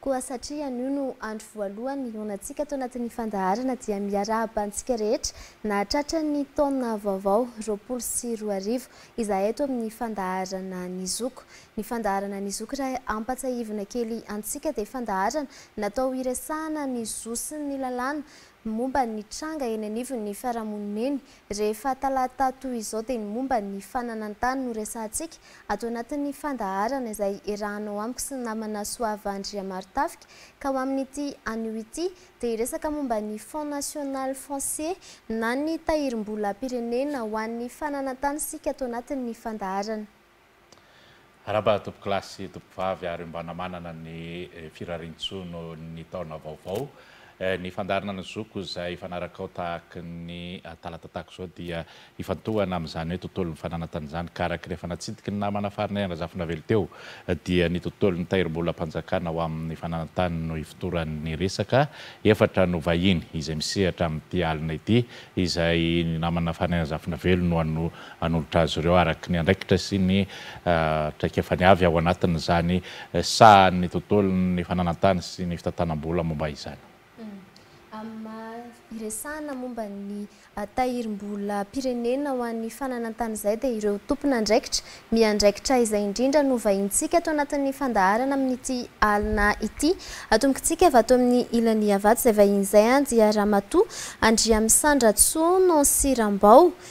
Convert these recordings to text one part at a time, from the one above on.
Koa satria anio no andro voalohany nionantsika tao anatin'ny fandaharana dia miarahaba antsika rehetra nahatratra ny taona vaovao roapolo sy roa arivo izahay eto amin'ny fandaharana Ny Zoky. Ny fandaharana Ny Zoky raha hampatsiahivina kely antsika dia fandaharana natao hiresahana ny zo sy ny lalàna Ny momba ny tranga eny anivon'ny fiarahamonina eny, rehefa talata toy izao dia ny momba ny fananan-tany no resahantsika ato anatin'ny fandaharana izay iarahanao amiko sy ny namana Soava Andriamarotafika ka ho amin'ity anio ity dia hiresaka momba ny Fonds National Foncier na ny Tahirim-bolam-pirenena ho an'ny Fananan-tany isika ato anatin'ny fandaharana. Araba tompokolahy sy tompokovavy ary mba namanana ny firariantsoa noho ny taona vaovao. Ny fandaharana ny zoko izay hifanarakao tahaky ny talata tahaka izao dia hifantohana amin'izany hoe tontolon'ny fananantany izany ka araka ny efa natsidiky ny namana farinay Andrazafinavelo teo dia ny tontolon'ny tahirimbolam-panjakana ho amin'ny fananantany no ifotoran'ny resaka efatra no vahiny izay misehatra amin'ity alina ity izay ny namana farinay Andrazafinavelo no hanolotra azy ireo araka ny andraikitra sy ny traikefany avy ao anatin'izany sahan'ny tontolon'ny fananan-tany sy ny fitantanam-bola momba izany. Amin'ny maha iresahana momba ny tahirim-bolam-pirenena ho an'ny fananan-tany izay dia ireo tompon'andraikitra miandraikitra izay indrindra no vahinintsika ato anatin'ny fandaharana amin'ity alina ity. Atombokintsika avy ato amin'ny ilany Iavato izay vahiny izay dia Ramatoa Andriamisandratsononsirambao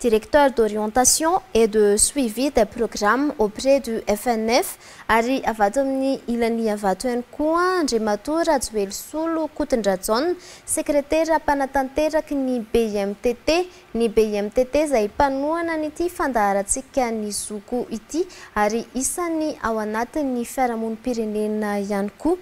Directeur d'orientation et de suivi des programmes auprès du FNF, ary avy ato amin'ny ilan'Iavato ihany koa Andriamatoa Rajoelisolo Kotondrajaona, Sekretera mpanatanteraky ny BIMTT, ny BIMTT izay mpanohana an'ity fandaharantsika ny zoky ity ary isan'ny ao anatin'ny fiarahamonim-pirenena ihany koa.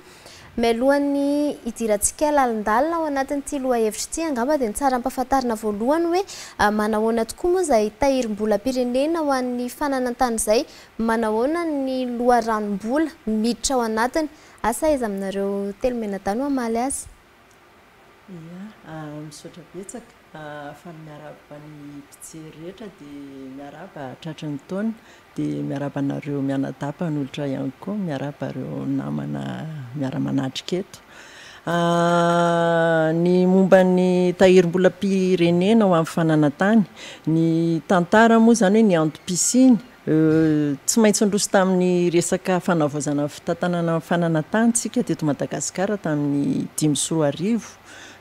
Mialohan'ny hidirantsika lalindalina ao anatin'ity lohahevitra ity, angamba dia tsara ampahafantarina voalohany hoe manahoana tokoa moa izay tahirim-bolam-pirenena ho an'ny fananan-tany izay, manahoana ny loharanom-bola miditra ao anatiny. Asa aiza aminareo telo mianadahy no hamaly azy? Ia, misaotra betsaka. Fa ny miarahaba ny mpijery rehetra dia miarahaba tratry ny taona. Dia miarahaba anareo mianadapan'olitra ihany koa, miarahaba ireo namana miara-manatrika eto. Ny momba ny tahirim-bolam-pirenena ho an'ny fananantany, ny tantara moa izany hoe ny antom-pisiany Tsy maintsy niroso tamin'ny resaka fanavaozana ny fitantanana ny fananantany isika teto Madagasikara tamin'ny dimy sy roa arivo.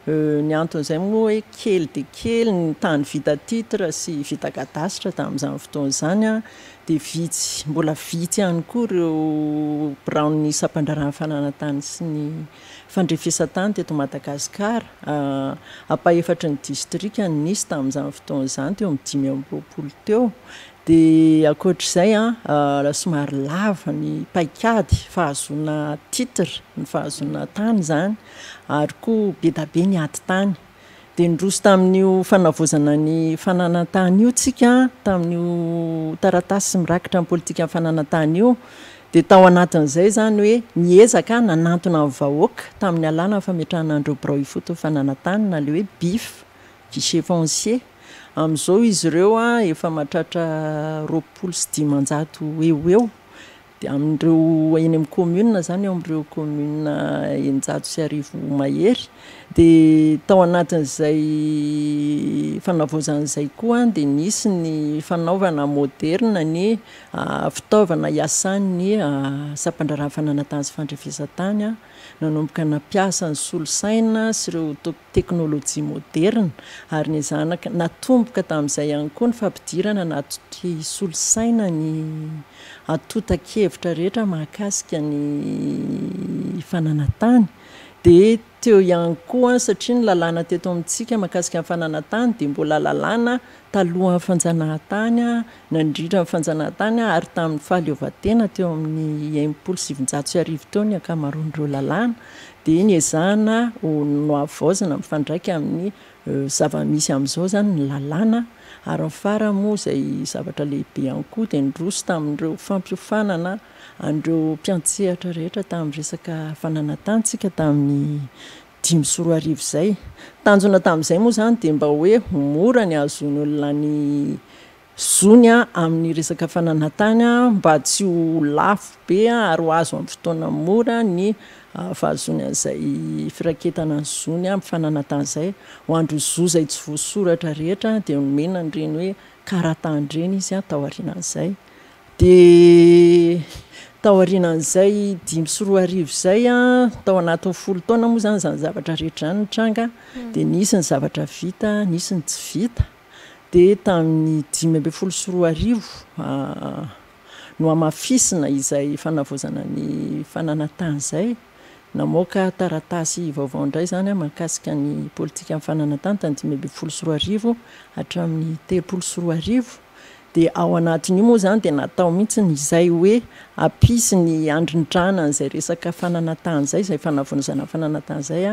Ny anton'izay moa hoe kely dia kely ny tany vita titre sy vita cadastre tamin'izany fotoana izany an, dia vitsy, mbola vitsy ihany koa ireo biraon'ny sampandraharahan'ny fananantany sy ny fandrefesan-tany teto Madagasikara. Ampahefatry ny distrika no nisy tamin'izany fotoana izany, teo amin'ny dimy amby roapolo teo. Dia ankoatr'izay an, somary lava ny paikady fahazoana titre, ny fahazoana tany izany, ary koa bedabe ny ady tany. Dia niroso tamin'io fanavaozana ny fananantany io tsika, tamin'io taratasy mirakitra ny politikan'ny fananantany io. Dia tao anatin'izay izany hoe niezaka aho nanantona ny vahoaka tamin'ny alalan'ny fametrahana an'ireo birao ifotony fananantany na ilay hoe bif, Givenchy. Amin'izao izy ireo efa mahatratra roapolo sy dimanjato eo ho eo, dia amin'ireo eny amin'ny commune izany, eo amin'ireo commune eninjato sy arivo mahery. Dia tao anatin'izay fanavaozana izay koa dia nisy ny fanaovana moderina ny fitaovana hiasan'ny sampandraharaha fananantany sy fandrefesantany, nanomboka ny nampiasa ny solosaina sy ireo teknolojia moderina ary ny zanaka. Natomboka tamin'izay ihany koa ny fampidirana anaty solosaina ny antontan-kevitra rehetra mahakasika ny fananan-tany. Dia teo ihany koa, satria ny lalàna teto amintsika mahakasika ny fananan-tany dia mbola lalàna talohan'ny fanjanahantany nandritra ny fanjanahantany ary tamin'ny fahaleovantena teo amin'ny enimpolo sy sivinjato sy arivo teo ny ankamaroan'ireo lalàna dia niezahana ho nohavaozina mifandraika amin'ny zava-misy amin'izao izany ny lalàna ary ny farany moa izay zavatra lehibe ihany koa dia niroso tamin'ireo fampiofanana an'ireo mpiantsehatra rehetra tamin'ny resaka fananantantsika tamin'ny dimy sy roa arivo izay. Tanjona tamin'izay moa izany dia mba hoe ho mora ny hahazoan'olona ny zony amin'ny resaka fananantany mba tsy ho lafo be ary ho azo amin'ny fotoana mora ny fahazoany an'izay firaketana ny zony amin'ny fananantany izay. Ho an'ireo zo izay tsy voasoratra rehetra dia nomena an'ireny hoe karatahan'ireny izy taorianan'izay. Dia taorianan'izay dimy sy roa arivo izay, tao anatin'ny folo taona moa izany izany zavatra rehetra izany nitranga, dia nisy ny zavatra vita, nisy ny tsy vita. Dia tamin'ny dimy ambin'ny folo sy roa arivo nohamafisina izay fanavaozana ny fananantany izay, namoaka taratasy vaovao indray izany aho mahakasika ny politikan'ny fananantany tamin'ny dimy ambin'ny folo sy roa arivo hatramin'ny telopolo sy roa arivo. Dia ao anatin'io moa izany dia natao mihitsy ny izay hoe hampisy ny handrindrana an'izay resaka fananantany izay, izay fanavonizana fananantany izay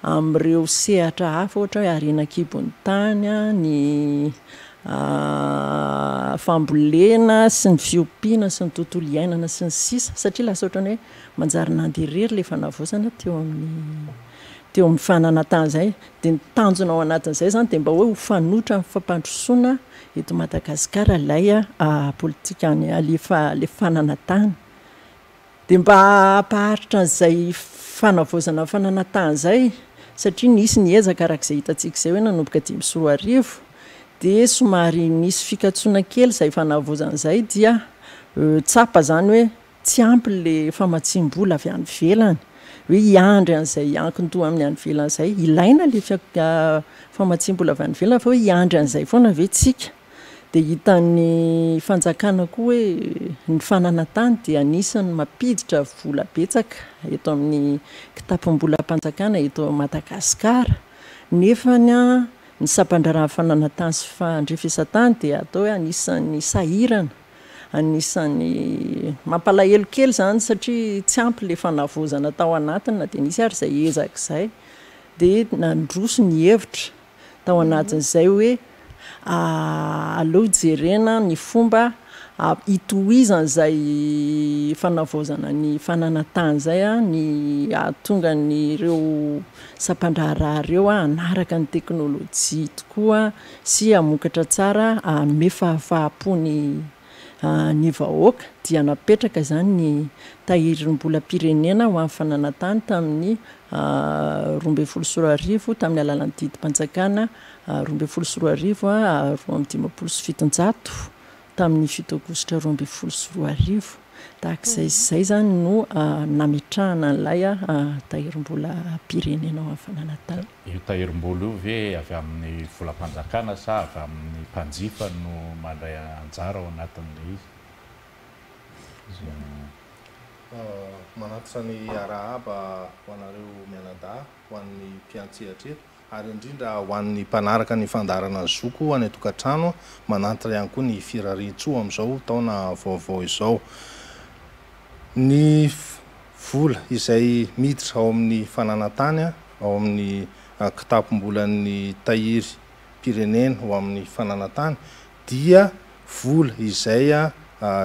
amin'ireo sehatra hafa ohatra hoe harena an-kibon'ny tany, ny fambolena sy ny fiompiana sy ny tontolo iainana sy ny sisa satria lasa ohatran'ny hoe manjary nandeha irery ilay fanavaozana teo amin'ny teo amin'ny fananantany izay. Dia ny tanjona ao anatin'izay izany dia mba hoe ho fanoitra amin'ny fampandrosoana Eto Madagasikara ilay politika any alefa alefanana tany dia mba hampaharitra an'izay fanavaozana fanana tany izay satria nisy ny ezaka araka izay hitantsika izay hoe nanomboka dimy sy roa arivo dia somary nisy fikatsoana kely izay fanavaozana izay dia tsapa izany hoe Tsy ampy ilay famatsiam-bola avy any ivelany, hoe hiandry an'izay hiankin-doha amin'ny any ivelany izay. Ilaina ilay fia- famatsiam-bola avy any ivelany fa hoe hiandry an'izay foana ve tsika? Dia hitan'ny fanjakana koa hoe ny fanana tany dia anisan'ny mampiditra vola betsaka eto amin'ny kitapom-bolam-panjakana eto Madagasikara. Nefany an, ny sampan-draharahan'ny fananantany sy fandrefesan-tany dia atao hoe anisan'ny sahirana. Anisan'ny mampalahelo kely izany satria tsy ampy ilay fanavaozana tao anatiny na dia nisy ary izay ezaka izay. Dia nandroso ny hevitra tao anatin'izay hoe aleo jerena ny fomba hitohizana izay fanavaozana ny fananantany izay ny hahatonga an'ireo sampandraharaha ireo hanaraka ny teknolojia tokoa sy hamokatra tsara hanome fahafaham-po ny ny vahoaka dia napetraka izany ny Tahirimbolam-pirenena ho an'ny Fananantany tamin'ny roa ambin'ny folo sy roa arivo tamin'ny alalan'ny didim-panjakana roa ambin'ny folo sy roa arivo roa amby dimampolo sy fitonjato tamin'ny fito aogositra roa ambin'ny folo sy roa arivo tahaka izay sy izay izany no nametrahana an'ilay Tahirimbolam-pirenena ho an'ny Fananantany. Io tahirim-bola io ve avy amin'ny volam-panjakana sa avy amin'ny mpanjifa no mandray anjara ao anatin'ilay izy? Manatitra ny arahaba ho anareo mianadahy, ho an'ny mpiantsehatra eto, ary indrindra ho an'ny mpanaraka ny fandaharana Ny Zoko any an-tokantrano. Manantitra ihany koa ny Firariantsoa amin'izao taona vaovao izao. Ny. vola izay miditra ao amin'ny fananantany ao amin'ny kitapom-bolan'ny tahiry mpirenena ho amin'ny fananantany dia vola izay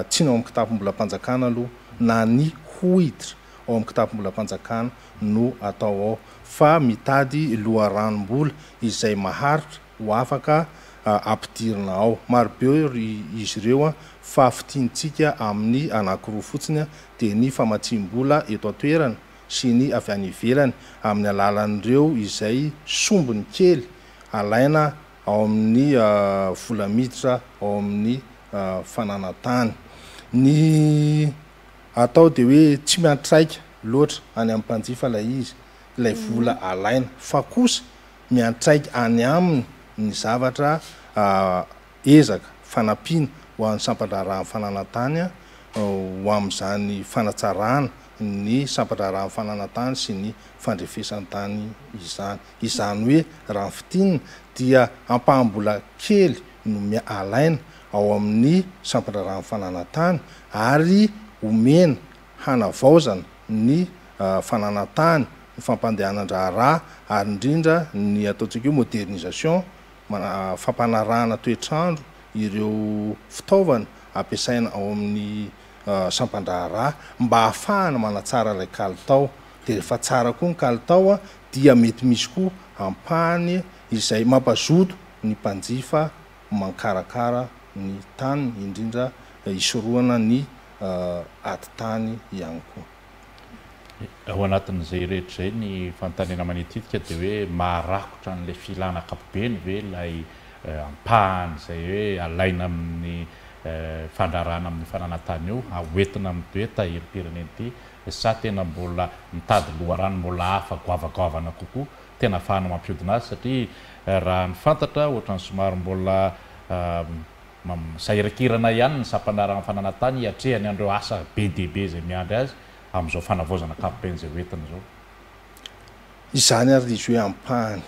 tsiny ao amin'ny kitapom-bolam-panjakana aloha na ny ho hiditra ao amin'ny kitapom-bolam-panjakana no atao ao fa mitady loharanom-bola izay maharitra ho afaka ampidirina ao. Marobe izy ireo fa fintintsika amin'ny anankiroa fotsiny dia ny famatsiam-bola eto an-toerana sy ny avy any ivelany amin'ny alalan'ireo izay sombiny kely alaina ao amin'ny vola miditra ao amin'ny fananan-tany. Ny atao dia hoe tsy miantraika loatra any amin'ny mpanjifa ilay izy, ilay vola alaina fa kosa, miantraika any aminy ny zavatra ezaka fanampiana ho an'ny sampan-draharahan'ny fananan-tany ho amin'izany fanatsarana ny sampan-draharahan'ny fananan-tany sy ny fandrefesan-tany izany. Izany hoe raha ny fintinina dia ampaham-bola kely no alaina ao amin'ny sampan-draharahan'ny fananan-tany ary omena hanavaozana ny fananantany, ny fampandehanan-draharaha ary indrindra ny ataontsika hoe modernisation, fampanarahana toetr'andro ireo fitaovana ampiasaina ao amin'ny sampan-draharaha mba hahafahana manatsara ilay kalitao. Dia rehefa tsara koa ny kalitao dia mety misy koa ampahany izay mampazoto ny mpanjifa mankarakara ny taniny indrindra hisorohana ny. ady tany ihany koa. Ao anatin'izay rehetra izay ny fanontaniana manititika dia hoe maharakotra an'ilay filana ankapobeny ve ilay ampahany izay hoe alaina amin'ny fandrarana amin'ny fananantany io haoentina amin'ny be tahirim-pirenena ity sa tena mbola mitady loharano mbola hafa goavagoavana kokoa tena ahafahana mampiodina azy satria raha ny fantatra ohatran'ny somary mbola Mamirsairankirana ihany ny sampana raha ny fananantany hiatrehany an'ireo asa be dia be izay miandry azy amin'izao fanavaozana ankapobeny izay ho entina izao. Izany ary ilay izy hoe ampahany.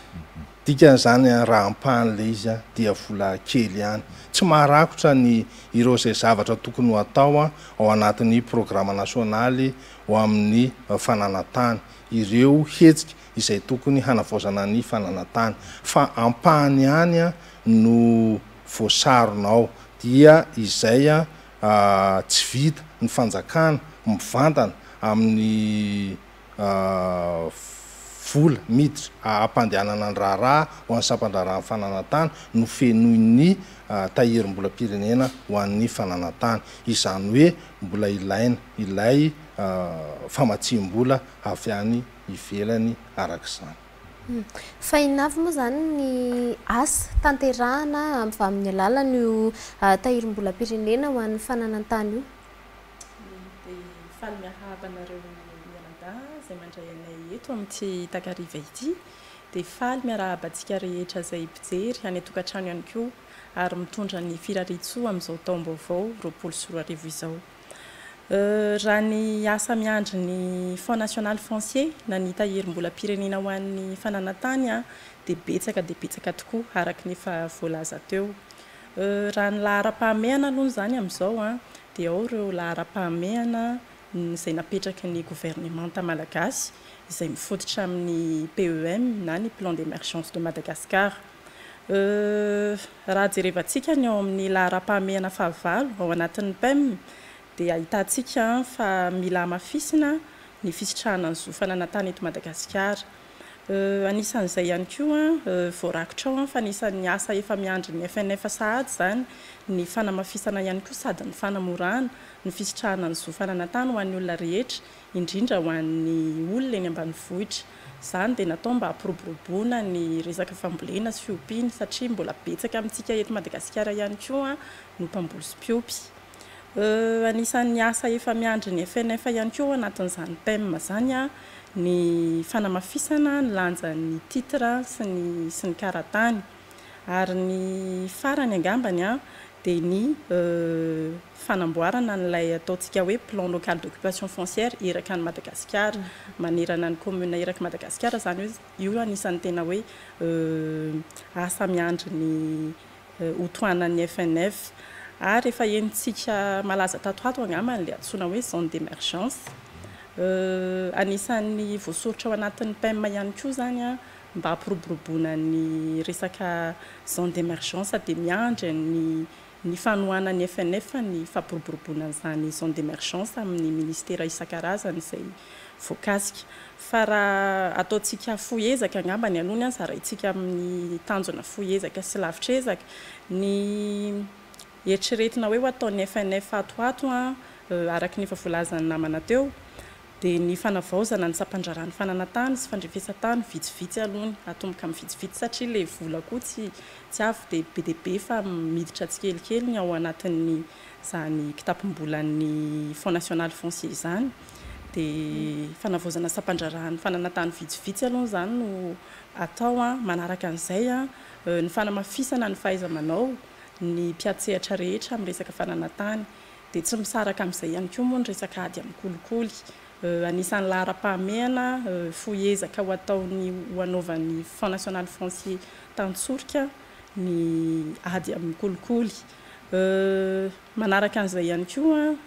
Dikan'izany raha ampahany ilay izy dia vola kely ihany. Tsy maharakotra ny ireo izay zavatra tokony ho atao ao anatin'ny programa nasionaly ho amin'ny fananantany, ireo hetsika izay tokony hanavaozana ny fananantany, fa ampahany ihany no voasarona ao dia izay tsy vita ny fanjakana mivantana amin'ny vola miditra hampandehanana ny raharaha ho an'ny sampandraharahan'ny fananantany no fenoin'ny tahirim-bolam-pirenena ho an'ny fananantany. Izany hoe mbola ilaina ilay famatsiam-bola avy any ivelany araka izany. Fa inona avy moa izany ny asa tanterahana avy amin'ny alalan'io tahirim-bolam-pirenena ho an'ny fananan-tany io? Dia faly miarahaba anareo mianadahy izay mandray anay eto amin'ity takariva ity. Dia faly miarahaba antsika rehetra izay mpijery any an-tokantrano ihany koa ary mitondra ny firariantsoa amin'izao taom-baovao roapolo sy roa arivo izao. Raha ny asa miandry ny Fonds National Foncier na ny Tahirimbolam-pirenena ho an'ny Fananan-tany dia betsaka dia betsaka tokoa araka ny efa voalaza teo. Raha ny laharam-pahamehana aloha izany amin'izao dia ao ireo laharam-pahamehana izay napetraky ny governemanta malagasy izay mifototra amin'ny PEM na ny Plan d'Emergence de Madagascar. Euh, raha jerevantsika ny ao amin'ny laharam-pahamehana fahavalo ao anatin'ny PEM dia ahitantsika fa mila hamafisina ny fisitrahana ny zo fanana tany eto Madagasikara. Euh, anisan'izay ihany koa, euh, voarakitra ao fa anisan'ny asa efa miandry ny FNF sahady izany ny fanamafisana ihany koa sady ny fanamorana ny fisitrahana ny zo fanana tany ho an'ny olona rehetra indrindra ho an'ny olona eny ambanivohitra. Izany dia natao mba hampiroboroboana ny resaka fambolena sy fiompiana satria mbola betsaka amintsika eto Madagasikara ihany koa no mpamboly sy mpiompy. Anisan'ny asa efa miandry ny FNF ihany koa ao anatin'izany PEM izany ny fanamafisana ny lanjan'ny titre sy ny sy ny karatany. Ary ny farany angambany dia ny. fanamboarana an'ilay ataontsika hoe plan local d'occupation foncière iraka an'i Madagasikara, manerana ny commune iraky Madagasikara izany hoe io anisan'ny tena hoe asa miandry ny ho tohanan'ny FNF. Ary efa henontsika malaza tato ho ato angamba ilay antsoina hoe zone d'emergence. Anisan'ny voasoritra ao anatin'ny PEM ihany koa izany mba hampiroboroboana ny resaka zone d'emergence dia miandry ny ny fanohanan'ny FNF ny fampiroboroboana an'izany zone d'emergence amin'ny ministera isan-karazany izay voakasika fa raha ataontsika fohy ezaka angamba ny aloha ny ahy zaraintsika amin'ny tanjona fohy ezaka sy lavitra ezaka ny eritreretina hoe ho ataon'ny FNF ato ho ato an araka ny efa voalazan'ny namana teo dia ny fanavaozana ny sampandraharahan'ny fananantany sy fandrefesan-tany vitsivitsy aloha ny atomboka amin'ny vitsivitsy satria ilay vola koa tsy tsy avy dia be dia be fa miditra tsikelikely ny ao anatin'ny izany kitapom-bolan'ny Fonds national foncier izany dia fanavaozana sampandraharahan'ny fananantany vitsivitsy aloha izany no atao an, manaraka an'izay an ny fanamafisana ny fahaiza-manao ny mpiatsehatra rehetra amin'ny resaka fananantany. Dia tsy misaraka amin'izay ihany koa moa ny resaka ady amin'ny kolikoly. Anisan'ny laharam-pahamehana fohy ezaka ho ataon'ny ho anaovan'ny Fonds National Foncier tan-tsorika ny ady amin'ny kolikoly. Manaraka an'izay ihany koa,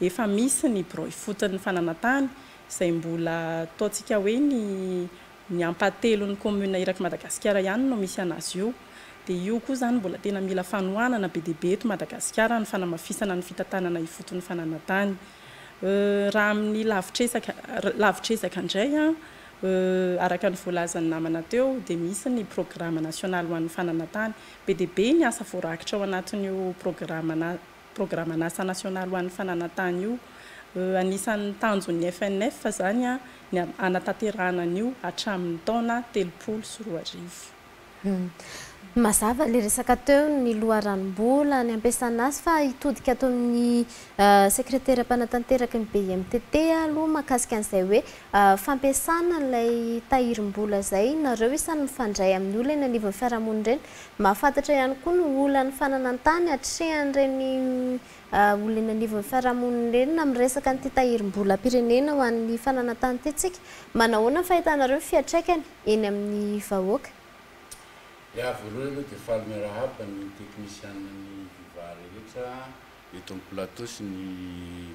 efa misy ny birao ifotony fananantany izay mbola ataontsika hoe ny Ny ampahatelon'ny commune iraky Madagasikara ihany no misy anazy io. Dia io koa izany mbola tena mila fanohanana be dia be eto Madagasikara ny fanamafisana ny fitantanana ifotony fananantany. Raha amin'ny lavitresaka lavitresaka indray araka ny voalazan'ny namana teo dia misy ny programa nasionaly ho an'ny fananantany. Be dia be ny asa voarakitra ao anatin'io programa programan'asa nasionaly ho an'ny fananantany io. Anisan'ny tanjon'ny FNF izany ny hanatanterahana an'io hatramin'ny taona telopolo sy roa arivo. Mazava ilay resaka teo ny loharanom-bola, ny hampiasana azy fa hitodika ato amin'ny sekretera mpanatanteraka ny BIMTT aloha mahakasika an'izay hoe fampiasana ilay tahirim-bola izay nareo isany mifandray amin'ny olona eny anivon'ny fiarahamonina ireny Mahafantatra ihany koa ny olan'ny fananan-tany atrehan'ireny olona eny anivon'ny fiarahamonina ireny na amin'ny resaka an'ity tahirim-bolam-pirenena ho an'ny fananan-tany ity tsika. Manahoana ny fahitanareo ny fiantraikany eny amin'ny vahoaka? Ny ahy voalohany aloha dia faly miarahaba ny teknisianina ny viva rehetra. Eto amin'ny plateau sy ny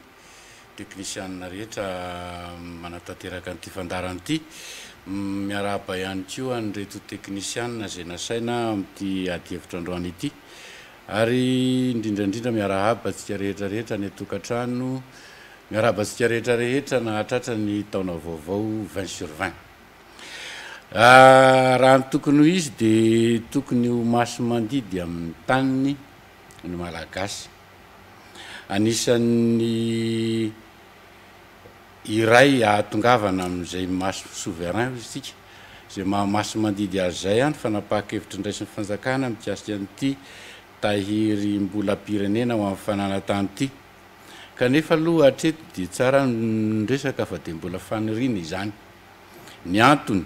teknisianina rehetra manatanteraka an'ity fandaharana ity. Miarahaba ihany koa an'ireto teknisianina izay nasaina amin'ity ady hevitra androany ity. Ary indrindra indrindra miarahaba antsika rehetra rehetra any an-tokantrano. Miarahaba antsika rehetra rehetra nahatratra ny taona vaovao vingt sur vingt. Raha ny tokony ho izy dia tokony ho maso mandidy amin'ny taniny. ny Malagasy. Anisan'ny iray ahatongavana amin'izay maso souverain hoy isika, izay maha masi-mandidy azy izay ny fanapahan-kevitry ny raisin'ny fanjakana mikasika an'ity tahirim-bolam-pirenena ho an'ny fananantany ity. Kanefa aloha hatreto dia tsara ny resaka fa dia mbola faniriana izany. Ny antony.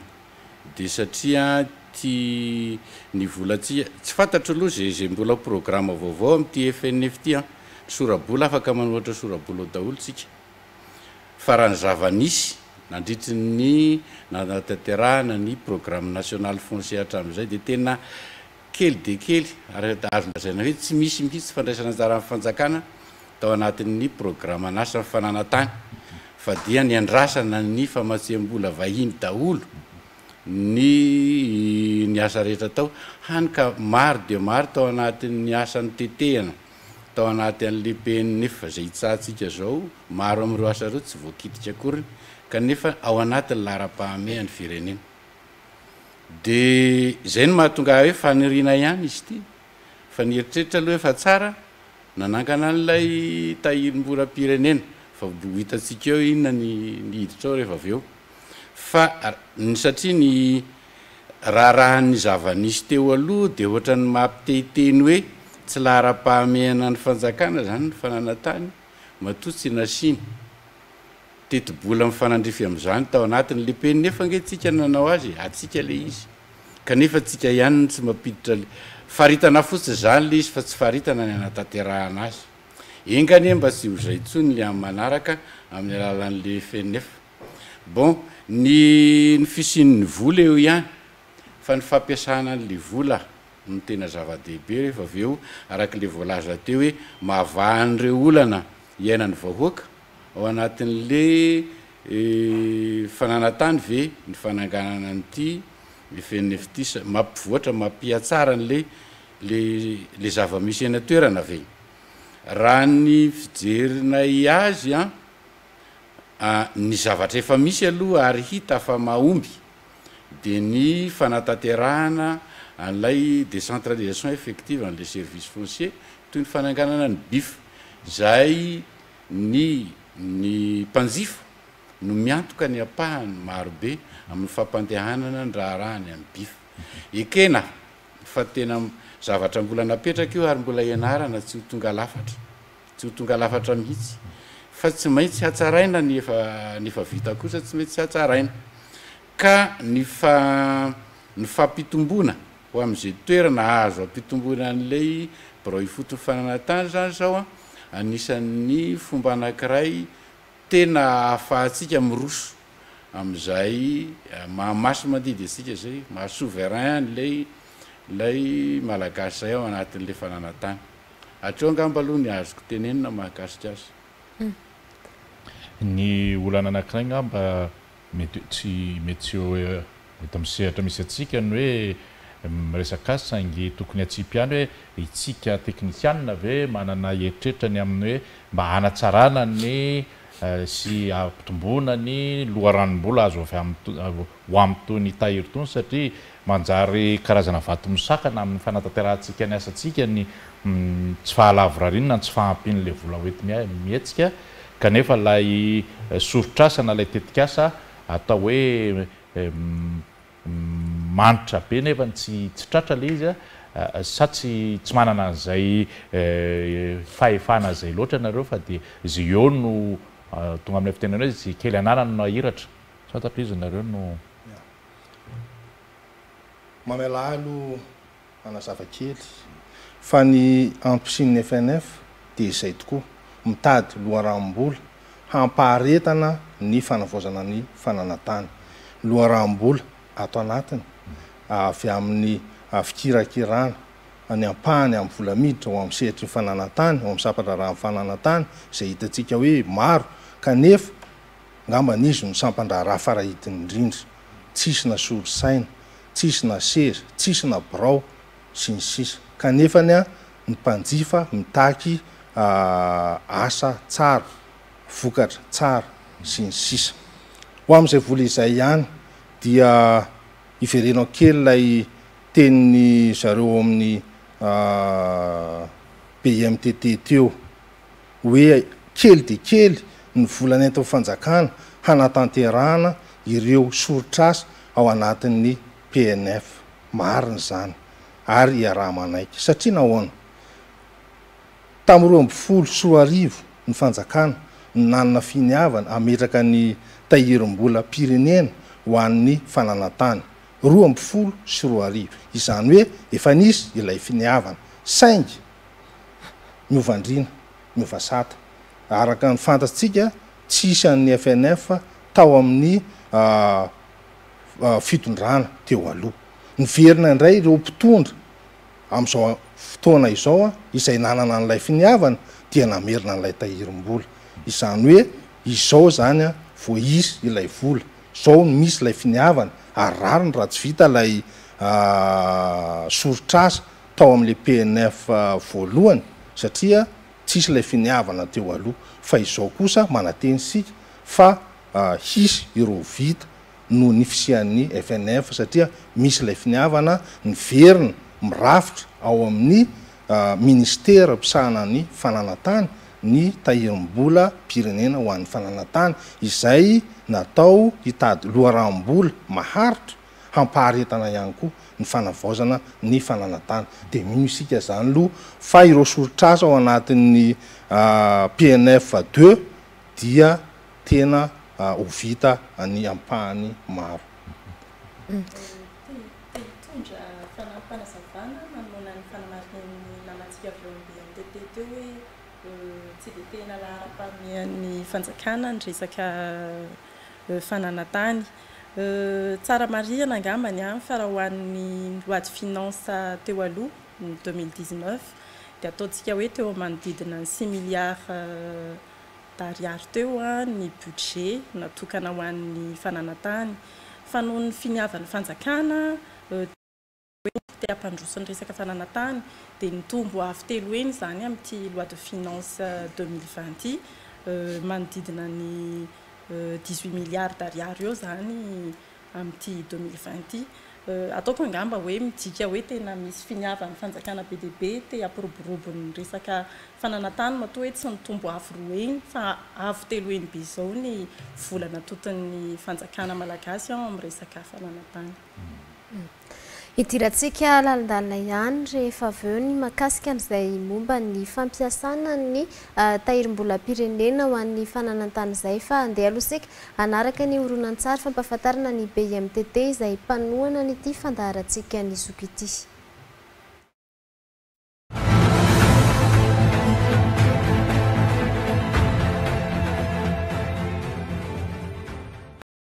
dia satria tia ny vola tia tsy fantatro aloha izay izay mbola programa vaovao amin'ity FNF ity an! ny sora-bola afaka manohatra sora-bola ao daholo tsika fa raha ny zava-nisy nandritry ny nanatanterahana ny programme national foncier hatramin'izay dia tena Kely dia kely, araka azo lazaina hoe tsy misy mihitsy fandraisana anjaran'ny fanjakana tao anatin'ny programan'asan'ny fananantany fa dia niandrasana ny famatsiambola vahiny daholo ny ny asa rehetra atao, hany ka maro dia maro tao anatin'ny asa notetehana tao anaty an'ilay PNF izay itsahantsika izao, maro amin'ireo asa ireo tsy voakitika akoriny kanefa ao anatin'ny laharam-pahamehan'ny firenena. Dia izay no mahatonga ahy hoe faniriana ihany izy ity, fa ny eritreritra aloha efa tsara nanangana an'ilay tahirim-bolam-pirenena, fa ho hitantsika eo inona ny hiditra ao rehefa avy eo. Fa ny satria ny raharahan'ny zava-nisy teo aloha dia ohatran'ny mampitehiteny hoe tsy laharam-pahamehana ny fanjakana izany ny fananantany matoa tsy nasiany Tetibola mifanandrify amin'izany tao anatin'ny le peny nefa ange tsika no nanao azy e! Atsika le izy! Kanefa tsika ihany no tsy mampiditra le. Faritana fotsiny izany le izy fa tsy faritana ny hanatanterahana azy. Enga anie mba tsy ho izay intsony le amin'ny manaraka amin'ny alalan'ny le feny nefa. Bon, ny ny fisian'ny vola eo ihany fa ny fampiasana an'ny le vola no tena zava-dehibe rehefa avy eo araka le voalaza teo hoe mahavaha an'ireo olana iainan'ny vahoaka, Ao anatin'le fananantany ve ny fananganana an'ity FNFTIS? Mampivoatra, mampihatsara an'le le zava-misy eny an-toerana ve? Raha ny fijerinay azy an, ny zavatra efa misy aloha ary hita fa mahomby dia ny fanatanterahana an'ilay décentralisation effective an'le service foncier toy ny fananganana ny BIF izay Ny ny mpanjifa no miantoka ny ampahany marobe amin'ny fampandehanana ny raharahany any Bif. Ekena fa tena zavatra mbola napetraka io ary mbola ianarana tsy ho tonga lafatra, tsy ho tonga lafatra mihitsy fa tsy maintsy hatsaraina ny efa ny efa vita kosa tsy maintsy hatsaraina ka ny fa ny fampitomboana ho amin'izay toerana azo ampitomboina an'ilay birao ifotony fananantany izany izao an, anisan'ny fomba anankiray tena ahafahantsika miroso amin'izay maha masimandidy antsika izay, maha souverain an'ilay ilay Malagasy izay ao anatin'ilay fananantany. Hatreo angamba aloha ny azoko tenenina mahakasika azy. Ny olana anankiray angamba. Mety tsy mety tsy ho eto amin'ny sehatra misy antsika ny hoe miresaka azy saingy tokony hatsipy ihany hoe isika teknisianina ve manana eritreritra ny amin'ny hoe mba hanatsarana ny sy hampitomboana ny loharanom-bola azo avy amin'ny ho amin'itony tahiry itony satria manjary karazana vato misakana amin'ny fanatanterahantsika ny asantsika ny tsy fahalavorariana ny tsy fahampian'ilay vola hoenti-mihetsika Kanefa ilay soritr'asa na ilay tetik'asa atao hoe manitra be nefany tsy tratra ilay izy sa tsy tsy manana an'izay fahefana izay loatra ianareo fa dia izay eo no tonga amin'ilay fitenenana hoe izay kely ananany no ahiratra tsy fantatro izy nareo no Mamelà aloha. Manazava kely fa ny antosin'ny FNF dia izay tokoa, mitady loharanom-bola hampaharetana ny fanavaozana ny fananantany. Loharanom-bola ato anatiny avy amin'ny fikirakirana ny ampahany amin'ny vola miditra ao amin'ny sehatry ny fananantany, ao amin'ny sampan-draharahan'ny fananantany, izay hitantsika hoe maro kanefa angamba izy no sampan-draharaha fara-hidiny indrindra, tsisy na solosaina tsisy na seza, tsisy na birao, sy ny sisa Kanefany an, ny mpanjifa mitaky asa tsara, vokatra tsara, sy ny sisa Ho amin'izay vola izay ihany dia iverenao kely ilay tenin'ny zareo ao amin'ny BIMTT teo hoe kely dia kely ny vola nentin'ny fanjakana hanatanterahana ireo soritr'asa ao anatin'ny PNF. Marina izany ary iaraha-manaiky. Satria nahoana? Tamin'ny roa ambin'ny folo sy roa arivo ny fanjakana no nanana finiavana hametraka ny tahirim-bolam-pirenena ho an'ny fananantany. Roa ambin'ny folo sy roa arivo. Izany hoe efa nisy ilay finiavana. Saingy. Novandriana, Novasata. Araka ny fantatsika, tsy hisy an'ny FNF tao amin'ny fitondrana teo aloha. Niverina indray ireo mpitondra amin'izao fotoana izao izay nanana an'ilay finiavana dia namerina an'ilay tahirim-bola. Izany hoe izao izany vao hisy ilay vola, izao no misy ilay finiavana ary rariny raha tsy vita ilay soritr'asa. tao amin'ilay PNF voalohany satria tsisy ilay finiavana teo aloha fa izao kosa mananteny isika fa hisy ireo vita noho ny fisian'ny FNF satria misy ilay finiavana niverina mirafitra ao amin'ny Ministera mpisahana ny fananantany ny tahirim-bola pirenena ho an'ny fananantany izay natao hitady loharanom-bola maharitra hampaharetana ihany koa ny fanavaozana ny fananantany. Dia mino isika izany aloha fa ireo soritr'asa ao anatin'ny PNF deux dia tena ho vita ny ampahany maro. Te hitondra fanampanazavana manoloana ny fanamarihan'ny namantsika avy ao amin'ny BNTP teo hoe tsy dia tena laharam-pahamehan'ny fanjakana ny resaka fananantany. Euh, tsara marihina angambany an, fa raha ho an'ny loi de finance teo aloha, ny deux mille dix-neuf, dia ataontsika hoe teo manodidina ny six milliards d'ariary teo ny budget natokana ho an'ny fananantany, fa noho ny finiavan'ny fanjakana, hoe te hampandroso ny resaka fananantany dia nitombo avo telo heny izany amin'ity loi de finances deux mille vingt ity manodidina ny dix huit milliards d'ariary eo izany amin'ity deux mille vingt ity ataoko angamba hoe midika hoe tena misy finiavan'ny fanjakana be dia be te hampiroborobo ny resaka fananantany matoa hoe tsy nitombo avo roa heny fa avo telo heny be izao ny vola natoton'ny fanjakana malagasy amin'ny resaka fananantany. Hidirantsika lalindalina ihany rehefa avy eo ny mahakasika an'izay momba ny fampiasana ny tahirim-bolam-pirenena ho an'ny fananantany izay fa handeha aloha isika hanaraka ny horonantsary fampahafantarana ny BIMTT izay mpanohana an'ity fandaharantsika ny zoky ity.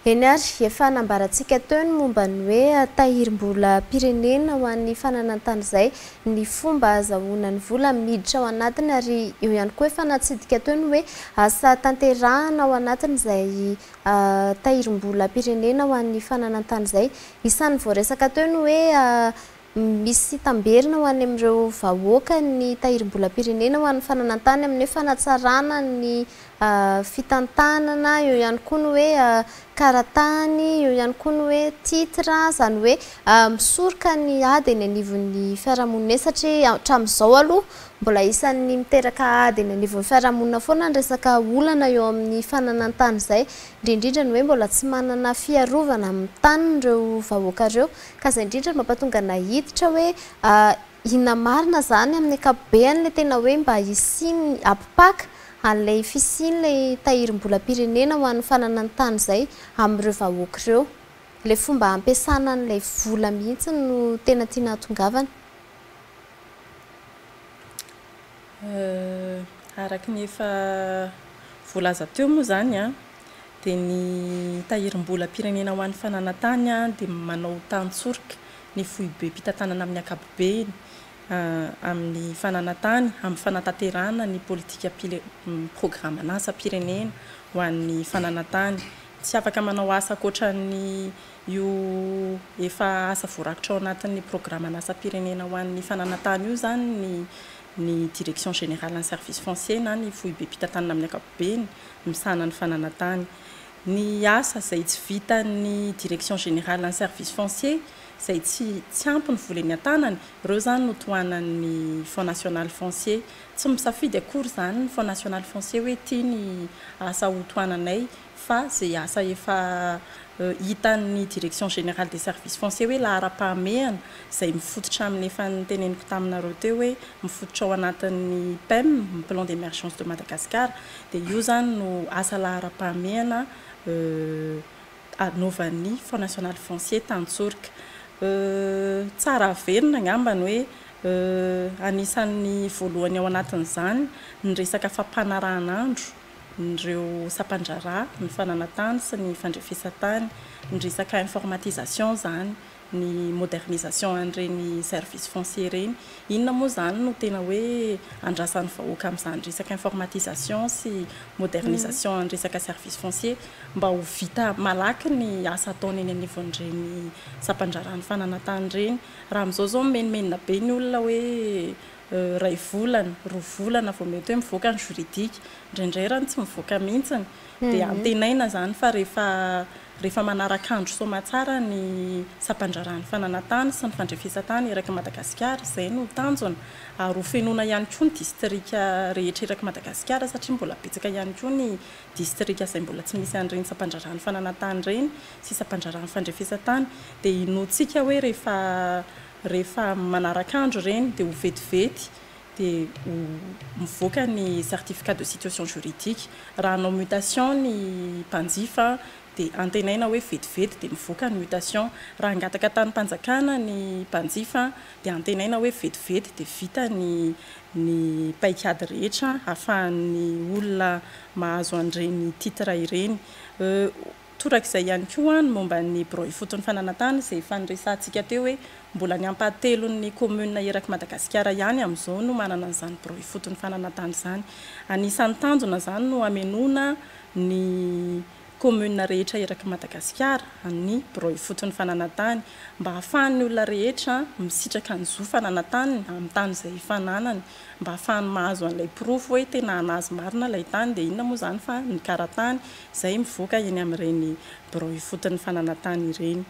Eny ary, efa nambarantsika teo ny momba ny hoe tahirim-bolam-pirenena ho an'ny fananan-tany izay ny fomba hahazahoana ny vola miditra ao anatiny ary eo ihany koa efa natsidika teo ny hoe asa tanterahana ao anatin'izay tahirim-bolam-pirenena ho an'ny fananan-tany izay. Isan'ny voaresaka teo ny hoe Misy tamberina ho any amin'ireo vahoaka ny Tahirim-bolam-pirenena ho an'ny fananantany amin'ny hoe fanatsarana ny fitantanana, eo ihany koa ny hoe karatany, eo ihany koa ny hoe titre, izany hoe misoroka ny ady eny anivon'ny fiarahamonina eny satria hatramin'izao aloha mbola isan'ny miteraka ady eny anivon'ny fiarahamonina foana ny resaka olana eo amin'ny fananantany izay, indrindra indrindra ny hoe mbola tsy manana fiarovana amin'ny taniny ireo vahoaka ireo. Ka zay indrindra no mampatonga anay hiditra hoe inona marina zany amin'ny ankapobeny ilay tena hoe mba hisian'ny ampipaka an'ilay fisian'ilay tahirim-bolam-pirenena ho an'ny fananan-tany izay amin'ireo vahoaka ireo. Ilay fomba hampiasana an'ilay vola mihitsy no tena tiana hahatongavana. Araka ny efa voalaza teo moa izany dia ny Tahirimbolam-pirenena ho an'ny fananantany dia manao tan-tsorika ny foibem-pitantanana amin'ny ankapobeny amin'ny fananantany amin'ny fanatanterahana ny politikam-pirenenan-asam-pirenena ho an'ny fananantany. Tsy afaka manao asa ankoatran'ny io efa asa voarakitra ao anatin'ny programan'asam-pirenena ho an'ny fananantany io izany ny Direction générale en service foncier na ny foibem-pitantanana amin'ny ankapobeny. beny misahana ny fananantany. Ny asa izay tsy vitan'ny Direction Générale en Service Foncier izay tsy tsy ampy ny vola eny an-tanany, ireo izany no tohanan'ny Fonds National Foncier. Tsy misafidy akory izany ny Fonds National Foncier hoe ity ny asa hotohananay. fa izay asa efa hitan'ny Direction Générale des Services Fonciers hoe laharam-pahamehana izay mifototra amin'ny efa noteneniko taminareo teo hoe mifototra ao anatin'ny PEM, ny Plan d'Emergence de Madagascar, dia io izany no asa laharam-pahamehana anaovan'ny Fonds National Foncier Tantsoroka. Tsara averina angamba ny hoe anisan'ny voalohany ao anatin'izany ny resaka fampanaranandro ireo sampandraharaha, ny fananantany sy ny fandrefesantany, ny resaka informatisation izany, ny modernisation an'ireny service foncier ireny. Inona moa izany no tena hoe andrasan'ny vahoaka amin'izany resaka informatisation sy modernisation an'ny resaka service foncier mba ho vita malaky ny asa ataony eny anivon'ireny sampandraharahan'ny fananantany ireny? Raha amin'izao izao mimenomenona be ny olona hoe iray volana, roa volana vao mety hoe mivoaka ny juridique, indraindray raha ny tsy mivoaka mihitsiny dia antenaina izany fa rehefa rehefa manaraka andro soamatsara ny sampandraharahan'ny fananantany sy ny fandrefesantany eraky Madagasikara, izay no tanjona, ary ho fenoina ihany koa ny distrika rehetra eraky Madagasikara satria mbola betsaka ihany koa ny distrika izay mbola tsy misy an'ireny sampandraharahan'ny fananantany ireny sy sampandraharahan'ny fandrefesantany, dia inoantsika hoe rehefa. Rehefa manaraka andro ireny dia ho vetivety dia ho mivoaka ny certificat de situation juridique. Raha hanao mutation ny mpanjifa dia antenaina hoe vetivety dia mivoaka ny mutation. Raha hangataka tanim-panjakana ny mpanjifa dia antenaina hoe vetivety dia vita ny ny paikady rehetra ahafahan'ny olona mahazo an'ireny titre ireny. Torak'izay ihany koa ny momba ny birao ifotony fananantany izay efa niresahantsika teo hoe mbola ny ampahatelon'ny kaominina erak'i Madagasikara ihany amin'izao no manana an'izany birao ifotony fananantany izany. Anisan'ny tanjona izany no hamenoana ny kaominina rehetra erak'i Madagasikara amin'ny birao ifotony fananantany mba hahafahan'ny olona rehetra misitraka ny zo fananantaniny amin'ny tany izay efa ananany mba hahafahany mahazo an'ilay porofo hoe tena an'azy marina ilay tany dia inona moa izany fa ny karatany izay mivoaka eny amin'ireny birao ifotony fananantany ireny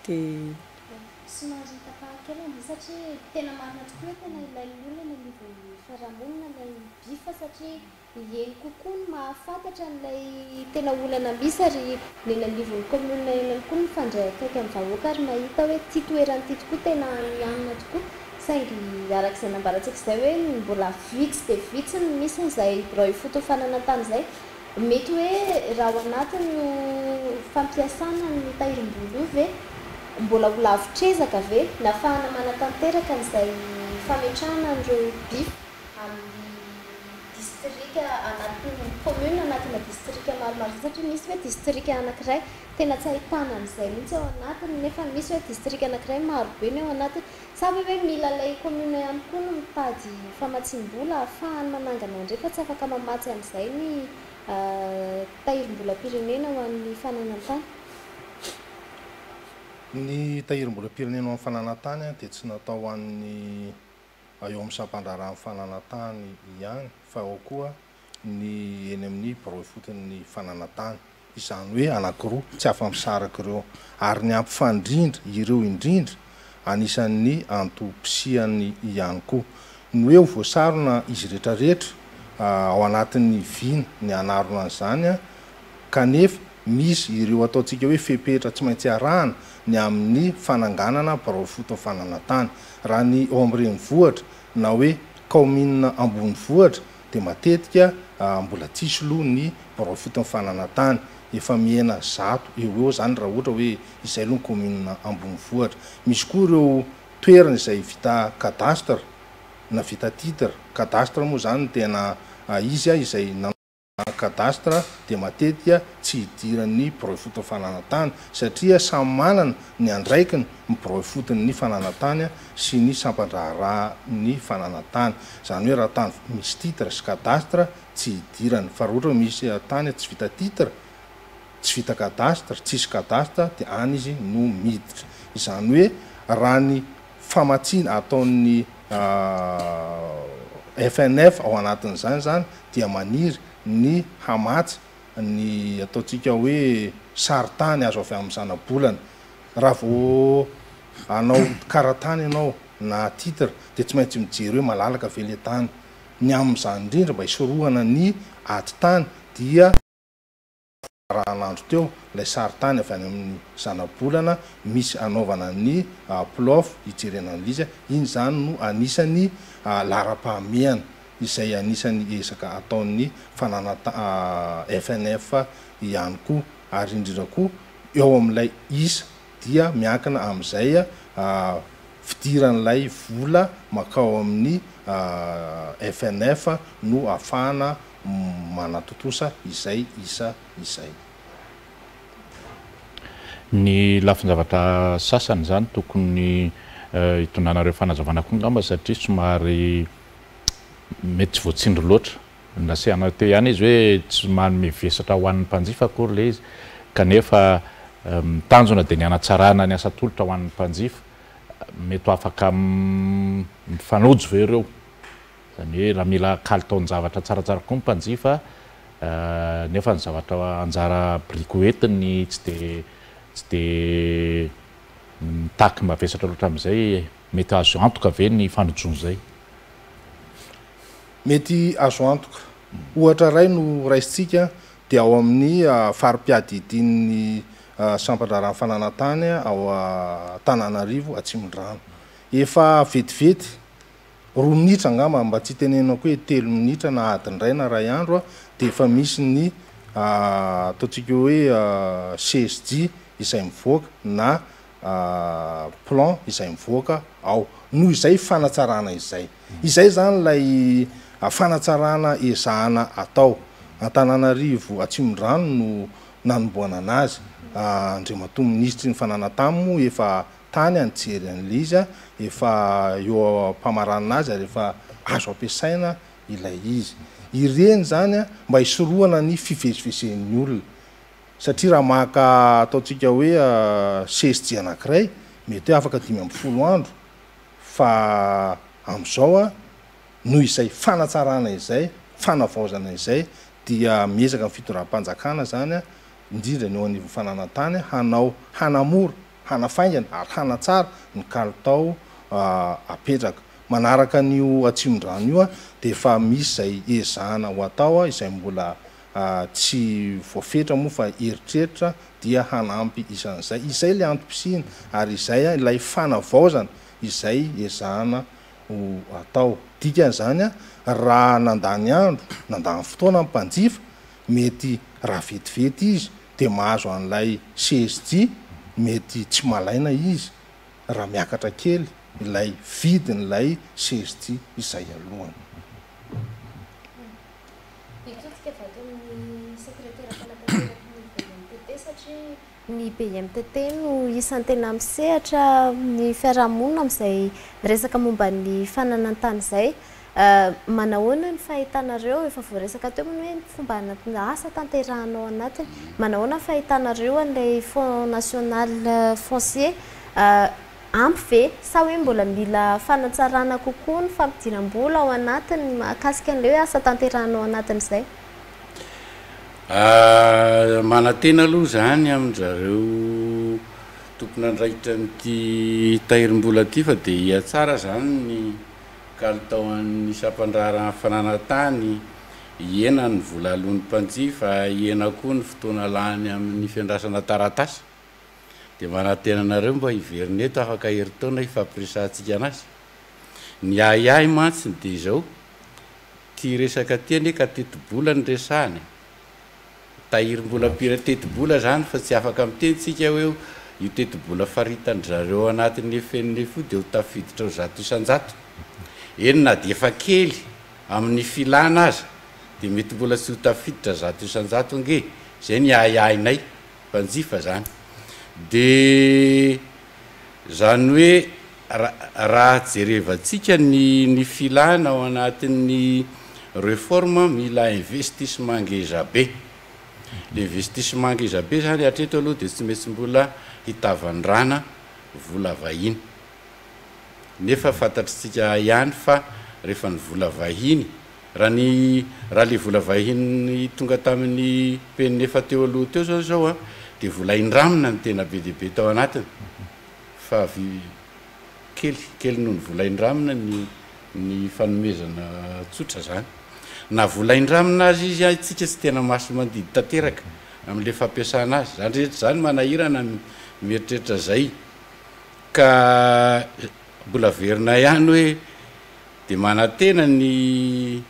dia. Somary tapahako kely an'io satria tena marina tokoa hoe tena ilain'ny olona eny anivon'ny fiarahamonina ilay BIF satria eny kokoa no mahafantatra an'ilay tena olana misy ary ny eny anivon'ny commune eny ihany koa no mifandray akaiky amin'ny vahoaka ary mahita hoe ity toerana ity tokoa tena nihanina tokoa saingy araka izay nambarantsika izay hoe mbola vitsy dia vitsy ny misy an'izay birao ifotony fananantany izay Mety hoe raha ao anatin'io fampiasana ny tahirim-bolo io ve mbola ho lavitr'ezaka ve ny hafahana manatanteraka an'izay fametrahana an'ireo by amin'ny distrika anatin'ny commune anatina distrika maromaro izay satria misy hoe distrika anakiray tena tsy ahitana an'izay mihitsy ao anatiny nefa misy hoe distrika anakiray marobe ny ao anatiny Sa ve hoe mila ilay commune ihany koa no mitady famatsiam-bola ahafahany manangana indray fa tsy afaka mamatsy amin'izay ny tahirim-bolam-pirenena ho an'ny fananan-tany? Ny tahirim-bolam-pirenena ho an'ny fananan-tany dia tsy natao ho an'ny eo amin'ny sampandraharahan'ny fananan-tany ihany fa ao koa ny eny amin'ny birao ifoton'ny fananantany, izany hoe anankiroa, tsy afa-misaraka ireo, ary ny hampifandrindra ireo indrindra, anisan'ny antom-pisiany ihany koa. Ny hoe ho voasarona izy rehetrarehetra ao anatin'ny vina ny hanarona an'izany, kanefa misy ireo ataontsika hoe fepetra tsy maintsy arahana ny amin'ny fananganana birao ifoton'ny fananantany. Raha ny ao amin'ny renivohitra na hoe kaominina ambonivohitra dia matetika mbola tsy hisy loha ny birao fito ny fananantany. Efa mihena zato eo ho eo izany raha ohatra hoe izay loha ny kaominina ambonivohitra. Misy koa ireo toerana izay vita cadastre na vita titre. Cadastre moa izany no tena izy izay na cadastre dia matetika tsy hidiran'ny birao ifotony fananantany satria samy manana ny andraikiny ny birao ifotony fananantany sy ny sampan-draharaha ny fananan-tany. Izany hoe raha tany misy titre sy cadastre tsy hidirany. Fa raha ohatra hoe misy tany tsy vita titre, tsy vita cadastre, tsisy cadastre dia any izy no miditra. Izany hoe raha ny famatsiana ataon'ny FNF ao anatin'izany izany dia maniry ny hamatsy ny ataontsika hoe sary tany azo avy amin'ny zanabolana. Raha vao. hanao karatany ianao na titre dia tsy maintsy mijery hoe malalaka ve ilay tany. Ny amin'izany indrindra mba hisorohana ny ady tany dia fararan'andro teo ilay sarintany avy any amin'ny zanabolana misy anaovana ny plof hijerena an'ilay izy. Iny izany no anisan'ny laharam-pahamehana izay anisan'ny ezaka ataon'ny fananatan FNF ihany koa ary indrindra koa eo amin'ilay isa dia miankina amin'izay fidiran'ilay vola mankao amin'ny FNF no ahafahana manatontosa izay isa izay. Ny lafin-javatra sasany izany tokony hitondranareo fanazavana koa angamba satria somary mety tsy voatsindry loatra. Nasiana teo ihany izy hoe tsy manome vesatra ho an'ny mpanjifa akory ilay izy kanefa ny tanjona dia ny hanatsarana ny asa atolotra ho an'ny mpanjifa. Mety ho afaka mifanojo ve ireo? Izany hoe raha mila kalitaon-javatra tsaratsara kokoa ny mpanjifa nefa ny zavatra anjara biriky ho entiny tsy dia tsy dia mitaky mavesatra loatra amin'izay, mety azo antoka ve ny fanojona izay? Mety azo antoka. Ohatra iray no raisintsika dia ao amin'ny fari-piadidian'ny sampan-draharahan'ny fananan-tany ao Antananarivo Atsimondrano. Efa vetivety, roa minitra angamba, mba tsy hitenenako hoe telo minitra na adiny iray na iray andro, dia efa misy ny ataontsika hoe CSJ izay mivoaka na plan izay mivoaka ao. Noho izay fanatsarana izay. Izay izany ilay fanatsarana ezahana atao. Antananarivo Atsimondrano no nanomboanana azy. Andriamatoa Minisitry ny Fananantany moa efa tany nijery an'ilay izy, efa eo am-pamaranana azy ary efa azo ampiasaina ilay izy. Ireny izany mba hisorohana ny fivezivezen'ny olona. Satria raha maka ataontsika hoe CSG anankiray, mety hoe afaka dimy ambin'ny folo andro Fa amin'izao an, noho izay fanatsarana izay, fanavaozana izay, dia miezaka ny fitondram-panjakana izany an, indrindra ny eo anivon'ny fananantany, hanao, hanamora, hanafaingana ary hanatsara ny kalitao apetraka. Manaraka an'io Atsimondrano io an, dia efa misy izay ezahana ho atao izay mbola tsy voafetra moa fa eritreritra dia hanampy izan'izay. Izay ilay antom-pisiana ary izay ilay fanavaozana izay ezahana ho atao. Dikan'izany raha nandany andro, nandany fotoana ny mpanjifa, mety raha vetivety izy dia mahazo an'ilay CSG, mety tsy malaina izy raha miakatra kely ilay vidin'ilay CSG izay alohany. Hitodika avy ato amin'ny sekretera mpanapateraky ny BMTT satria ny BMTT no isan'ny tena misehatra amin'ny fiarahamonina amin'izay resaka momba ny fananan-tany izay. Manahoana ny fahitanareo, efa voaresaka teo moa ny hoe ny fomba asa tanterahana ao anatiny. Manahoana ny fahitanareo an'ilay Fonds national foncier Ampy ve? Sa hoe mbola mila fanatsarana kokoa ny fampidiram-bola ao anatiny mahakasika an'ilay hoe asa tanterahana ao anatin'izay? Manantena aloha izany amin-drizareo tompon'andraikitra an'ity tahirim-bola ity fa dia hihatsara izany ny kalitao an'ny sampan-draharahan'ny fananantany, hihena ny vola aloan'ny mpanjifa, hihena koa ny fotoana lany amin'ny fiandrasana taratasy. Dia manantena anareo mba hiverina eto afaka herintaona hifampiresahantsika an'asa. Ny ahiahy mantsy dia izao, ity resaka ity anie ka tetibola no resahana e! Tahirim-bolam-pire tetibola izany fa tsy afaka miteny tsika hoe io tetibola faritandry zareo ao anatin'ny FNF io dia ho tafiditra ho zato isan-jato. Eny na dia efa kely amin'ny filana aza dia mety mbola tsy ho tafiditra zato isan-jato ange. Izay ny ahiahinay. mpanjifa zany de zany hoe raha jerevantsika ny ny filana ao anatin'ny reforme mila investissement ngeza be investissement ngeza be zany hatreto aloha de tsy maintsy mbola hitavandrana vola vahiny nefa fantatritsika ihany fa rehefa ny vola vahiny Raha ny ralevolavahiny tonga tamin'ny penina efa teo aloha teo izao izao dia vola indramina no tena be dia be tao anatiny fa kely kely noho ny vola indramina ny ny fanomezana tsotra izany. Na vola indramina aza izy isika tsy tena masi-mandidy tanteraka amin'ilay fampiasana azy. Izany rehetra izany manahirana ny mieritreritra izay ka mbola averina ihany hoe Dia manantena ny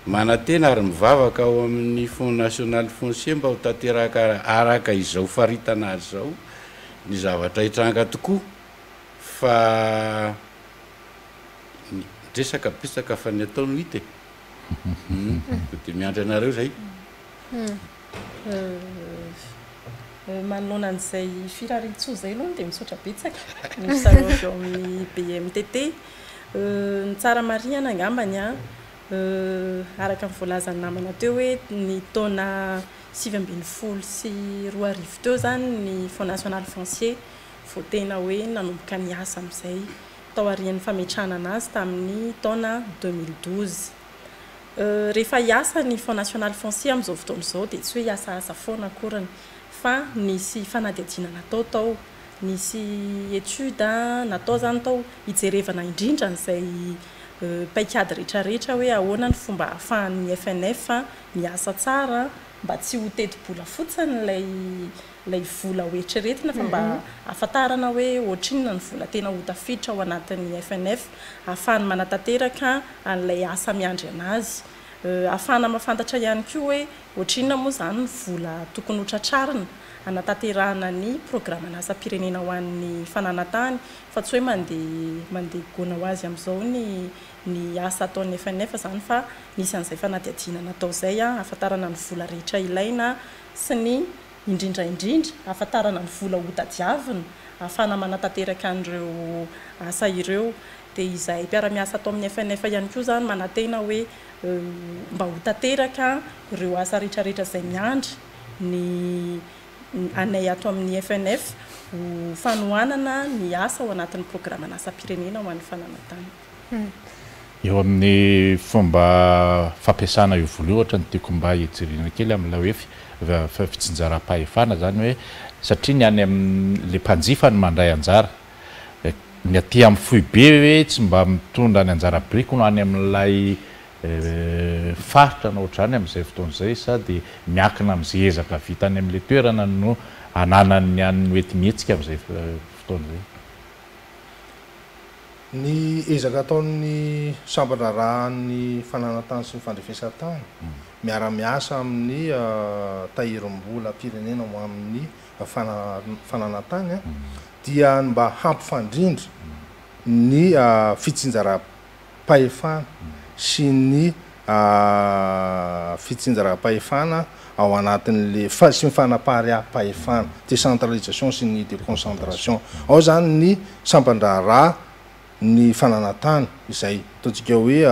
manantena ary mivavaka ao amin'ny Fonds National Foncier mba ho tanteraka araka izao faritana azy izao ny zavatra hitranga tokoa fa miresaka betsaka fa ny atao no hita e! dia miandry anareo izay. Manoloana an'izay firariantsoa izay aloha dia misaotra betsaka ny mpizarao avy ao amin'ny BMTT. Ny tsara marihana angambany araka ny voalazan'ny namana teo hoe ny taona sivy ambin'ny folo sy roa arivo teo izany ny Fonds national foncier vao tena hoe nanomboka niasa amin'izay, taorian'ny fametrahana an'azy tamin'ny taona deux mille douze. Rehefa hiasa ny Fonds National Foncier amin'izao fotoana izao dia tsy hoe hiasasa foana akoriny fa nisy fanadihadiana natao tao, nisy étude natao izany tao hijerevana indrindra an'izay paikady rehetrarehetra hoe ahoana ny fomba ahafahan'ny FNF miasa tsara mba tsy ho teti-bola fotsiny ilay ilay vola ho eritreretina fa mba ahafantarana hoe ohatrinona ny vola tena ho tafiditra ao anatin'ny FNF ahafahany manatanteraka an'ilay asa miandry an'azy. Ahafahana mahafantatra ihany koa hoe ohatrinona moa izany ny vola tokony ho tratrarina hanatanterahana ny programan'asam-pirenena ho an'ny fananantany fa tsy hoe mandeha mandeha goana ho azy amin'izao ny ny asa ataon'ny FNF izany fa misy an'izay fanadihadiana natao izay ahafantarana ny vola rehetra ilaina sy ny, indrindra indrindra, hahafantarana ny vola hotadiavina ahafahana manatanteraka an'ireo asa ireo. Dia izahay mpiara-miasa ato amin'ny FNF ihany koa izany manantena hoe mba ho tanteraka ireo asa rehetra rehetra izay miandry ny anay ato amin'ny FNF ho fanohanana ny asa ao anatin'ny programan'asam-pirenena ho an'ny fananantany. Eo amin'ny fomba fampiasana io vola io ohatra no tiako mba hijerena kely amin'ilay hoe fitsinjaram-pahefana izany hoe satria ny any amin'ilay mpanjifa no mandray anjara. Ny aty amin'ny foibe ve tsy mba mitondra ny anjara birikiny ho any amin'ilay faritra na ohatr'izany amin'izay fotoana izay sa dia miankina amin'izay ezaka vita any amin'ilay toerana no ananan'ny any mety mihetsika amin'izay fotoana izay? Ny ezaka ataon'ny sampan-draharahan'ny fananantany sy ny fandrefesantany miara-miasa amin'ny Tahirimbolam-pirenena ho amin'ny fananantany dia ny mba hampifandrindra ny fitsinjaram-pahefana sy ny aah fitsinjaram-pahefana ao anatin'le fa sy ny fanapariaham-pahefana, décentralisation sy ny déconcentration, ao zany ny sampan-draharaha, ny fananantany izay ataontsika hoe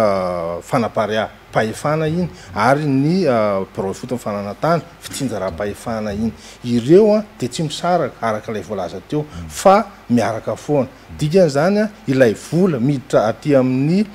fanapariaham-pahefana iny ary ny birao ifotony fananantany, fitsinjaram-pahefana iny. Ireo an dia tsy misaraka araka ilay voalaza teo fa miaraka foana. Dikan'izany an ilay vola miditra aty amin'ny.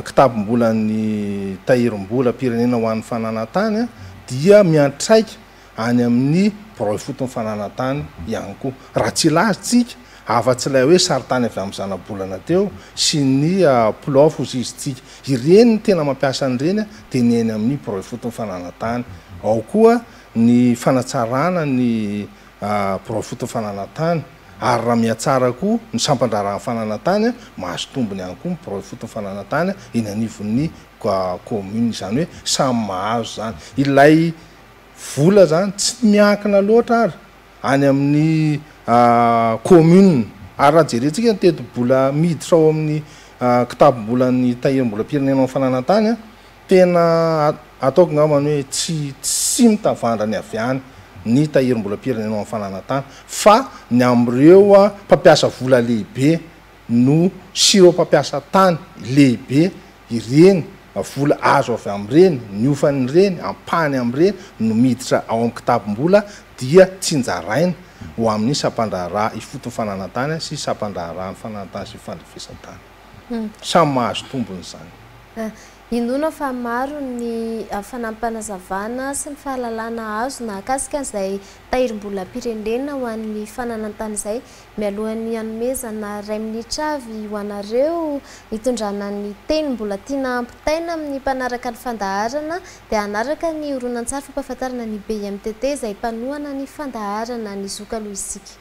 kitabom-bolan'ny Tahirim-bolam-pirenena ho an'ny fananantany dia miantraika any amin'ny birao ifoton'ny fananantany ihany koa. Raha tsy ilazantsika, afa-tsy ilay hoe sarintany avy amin'ny zanabolana teo sy ny Plof hoy isika, ireny ny tena mampiasa an'ireny dia ny eny amin'ny birao ifoton'ny fananantany. Ao koa ny fanatsarana ny birao ifoton'ny fananantany. Ary raha mihatsara koa ny sampan-draharahan'ny fananantany, mahazo tombony ihany koa ny birao ifotony fananantany eny anivon'ny kaominina. Izany hoe samy mahazo izany. Ilay vola izany tsy miankina loatra ary any amin'ny kaominina. Ary raha jerentsika ny tetibola miditra ao amin'ny kitabom-bolan'ny Tahirimbolam-pirenena ao amin'ny fananantany, Tena ataoko ngambany hoe tsy tsy mitavandra ny avy any ny tahirim-bolam-pirenena ao amin'ny fananantany fa ny amin'ireo mpampiasa vola lehibe no sy ireo mpampiasa tany lehibe ireny vola azo avy amin'ireny, ny hofan'ireny, ampahany amin'ireny no miditra ao amin'ny kitabom-bola dia tsinjaraina ho amin'ny sampan-draharaha ifotony fananantany sy sampan-draharahan'ny fananantany sy ny fandrefesan-tany. Samy mahazo tombony izany. Inoana fa maro ny fanampanazavana sy ny fahalalana azo nahakasika izay tahirim-bolam-pirenena ho an'ny fananan-tany izay. Mialohan'ny hanomezana iray minitra avy ho anareo hitondrana ny teny mbola tiana hampitaina amin'ny mpanaraka ny fandaharana dia hanaraka ny horonantsary fampahafantarana ny BIMTT izay mpanohana ny fandaharana ny zokaloha isika.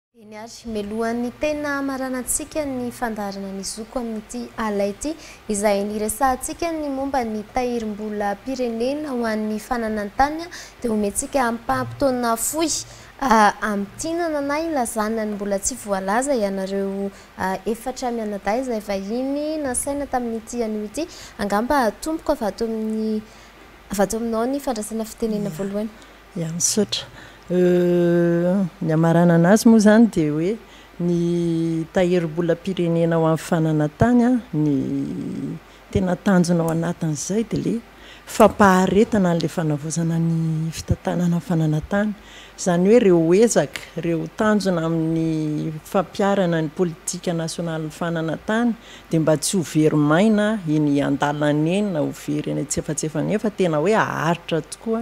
Eny ary, mialohan'ny tena hamaranantsika ny fandaharana ny zoko amin'ity ala ity, izay niresahantsika ny momba ny tahirim-bolam-pirenena ho an'ny fananan-tany, dia omentsika ampaham-potoana fohy hamintinana na hilazana ny mbola tsy voalaza ianareo efatra mianadahy izay vahiny nasaina tamin'ity anio ity. Angamba hatomboko avy ato amin'ny, avy ato aminao ny fandraisana fitenenana voalohany. Ya misaotra. Ny hamaranana azy moa izany dia hoe ny tahirim-bolam-pirenena ho an'ny fananantany ny tena tanjona ao anatin'izay dia ilay fampaharetana an'ilay fanavaozana ny fitantanana ny fananantany. Izany hoe ireo ezaka, ireo tanjona amin'ny fampiharana ny politika nasionalin'ny fananantany dia mba tsy ho very maina eny an-dalana eny na ho very eny an-tsefatsefa eny fa tena hoe haharitra tokoa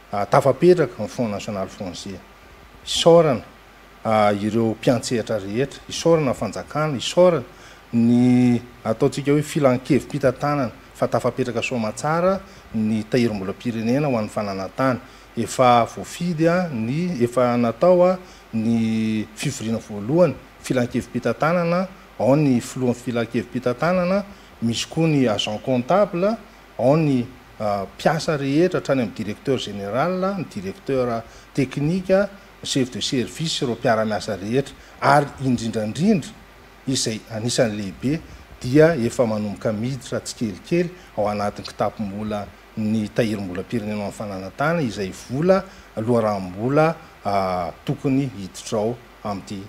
Tafapetraka ny Front National Français. Isaorana ireo mpiantsehatra rehetra, isaorana ny fanjakana, isaorana ny ataontsika hoe filankevi-pitantanana fa tafapetraka soa aman-tsara ny tahirimbolam-pirenena ho an'ny fananantany. Efa voafidy ny, efa natao ny fivoriana voalohany, filankevi-pitantanana, ao ny filohan'ny filankevi-pitantanana, misy koa ny agent comptable, Ao ny mpiasa rehetra hatrany amin'ny directeur général, ny directeur technique, ny chef de service sy ireo mpiara-miasa rehetra ary indrindrandrindra izay anisan'ny lehibe dia efa manomboka miditra tsikelikely ao anatin'ny kitapom-bola ny Tahirim-bolam-pirenena amin'ny fananantany izay vola loharanom-bola tokony hiditra ao amin'ity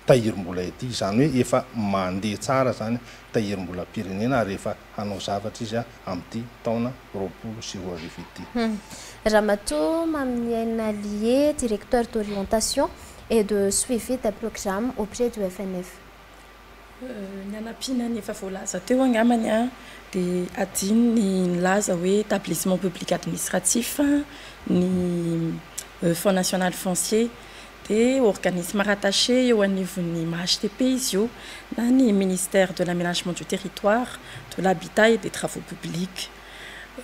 tahirimbola ity, izany hoe efa mandeha tsara izany tahirimbolam-pirenena ary efa hanao zavatra izy amin'ity taona roapolo sy roa arivo ity. Ramatoa Maminiaina Lie, Directeur d'orientation et de suivi des programmes auprès du FNF. Ny hanampiana ny efa voalaza teo angambany dia adino ny nilaza hoe établissement public administratif ny Fonds national foncier dia organisme rattaché eo anivon'ny MHTP izy io na ny Ministère de l'Aménagement du Territoire, de l'Habitat et des Travaux Publics.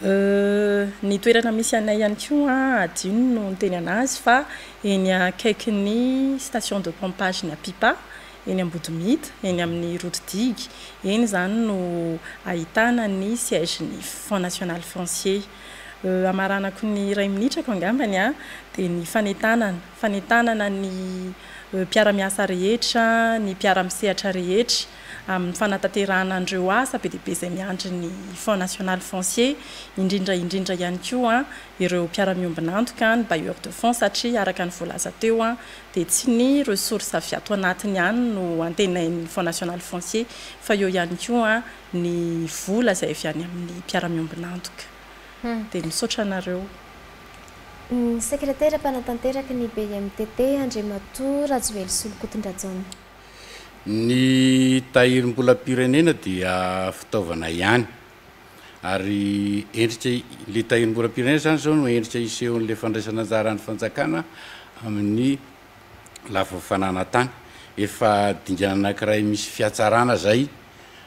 Ny toerana misy anay ihany koa hadino no niteny an'azy fa eny akaikin'ny station de pompage ny Apipa, eny Ambodimita, eny amin'ny route digue, eny izany no ahitana ny siège-n'ny Fonds National Foncier. Euh amaranako ny iray minitrako angambany an, dia ny fanentanana, fanentanana ny euh mpiara-miasa rehetra, ny mpiara-misehatra rehetra amin'ny fanatanterahana an'ireo asa be dia be izay miandry ny Fonds national foncier, indrindra indrindra ihany koa an ireo mpiara-miombon'antoka, ny bailleurs de fonds satria araka ny voalaza teo an dia tsy ny ressources avy ato anatiny ihany no antenain'ny Fonds national foncier fa eo ihany koa an ny vola izay avy any amin'ny mpiara-miombon'antoka. Dia misaotra anareo. Ny sekretera mpanatanteraky ny BIMTT, Andriamatoa Rajowel Solonkotondrajaona. Ny tahirimbolam-pirenena dia fitaovana ihany. Ary endrika, ilay tahirimbolam-pirenena izany izao no endrika isehoan'ilay fandraisan'anjaran'ny fanjakana amin'ny. lafiny fananantany. Efa dingana anankiray misy fihatsarana izay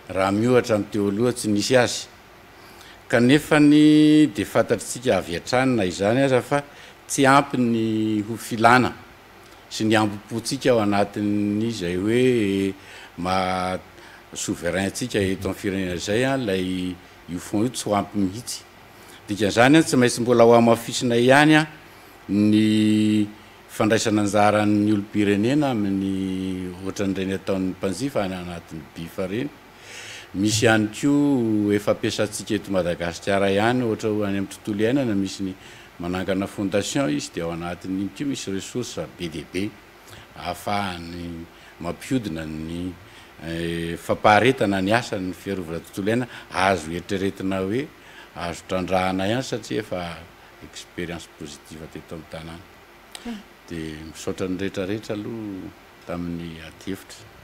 raha miohatra ny teo aloha tsy nisy azy. Kanefa dia fantatr'itsika avy hatrany na izany aza fa tsy ampy ny ho filana sy ny hambom-pontsika ao anatin'izay hoe maha souverain antsika eto amin'ny firenena izay ilay io fonds io tsy ho ampy mihitsy. Dikan'izany tsy maintsy mbola hohamafisinay ihany ny. Fandraisana anjaran'ny olom-pirenena amin'ny ohatran'ireny ataon'ny mpanjifa any anatin'ny BIF ireny. Misy ihany koa efa ampiasantsika eto Madagasikara ihany ohatra hoe any amin'ny tontolo iainana misy ny manangana fondation izy dia ao anatin'iny koa misy ressources be dia be ahafahany mampihodina ny fampaharetana ny asan'ny fiarovana tontolo iainana. Azo eritreretina hoe azo trandrahana ihany satria efa expérience positive teto amin'ny tanàna. Dia misaotra ny rehetra rehetra aloha tamin'ny adihevitra.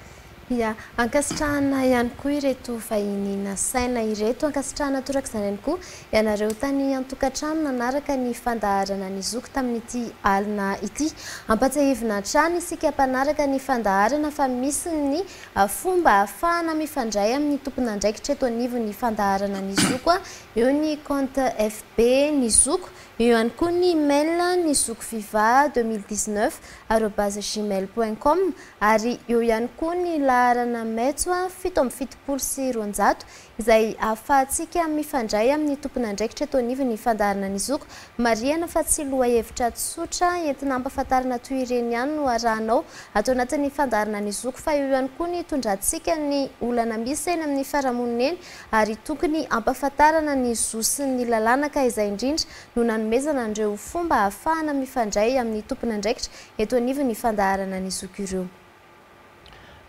Ia. Ankasitrahana ihany koa ireto vahiny nasaina ireto. Ankasitrahana toraka izany ihany koa ianareo tany an-tokantrano nanaraka ny fandaharana ny zoky tamin'ity alina ity. Ampatsiahivina hatrany isika mpanaraka ny fandaharana fa misy ny fomba ahafahana mifandray amin'ny tompon'andraikitra eto anivon'ny fandaharana ny zoky, eo ny compte FB. be ny zoko, eo ihany koa ny email ny zokoviva 2019 arobase gmail point com ary eo ihany koa ny laharana metso fito amby fitopolo sy roanjato izay ahafahantsika mifandray amin'ny tompon'andraikitra teo anivon'ny fandaharana ny zoko. Marihana fa tsy lohahevitra tsotra entina hampafantarana toy ireny ihany no arahanao ato anatin'ny fandaharana ny zoko fa eo ihany koa ny itondrantsika ny olana misy eny amin'ny farahamonina eny ary tokony hampafantarana ny zo sy ny lalàna ka izay indrindra no nanomezana an'ireo fomba hahafahana mifandray amin'ny tompon'andraikitra eto anivon'ny fandaharana ny zoky ireo.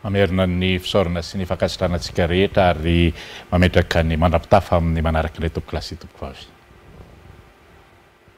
Mamerina ny fisaorana sy ny fankasitrahana antsika rehetra ary mametraka ny mandra-pitafa amin'ny manaraka indray tompokolahy sy tompokovavy.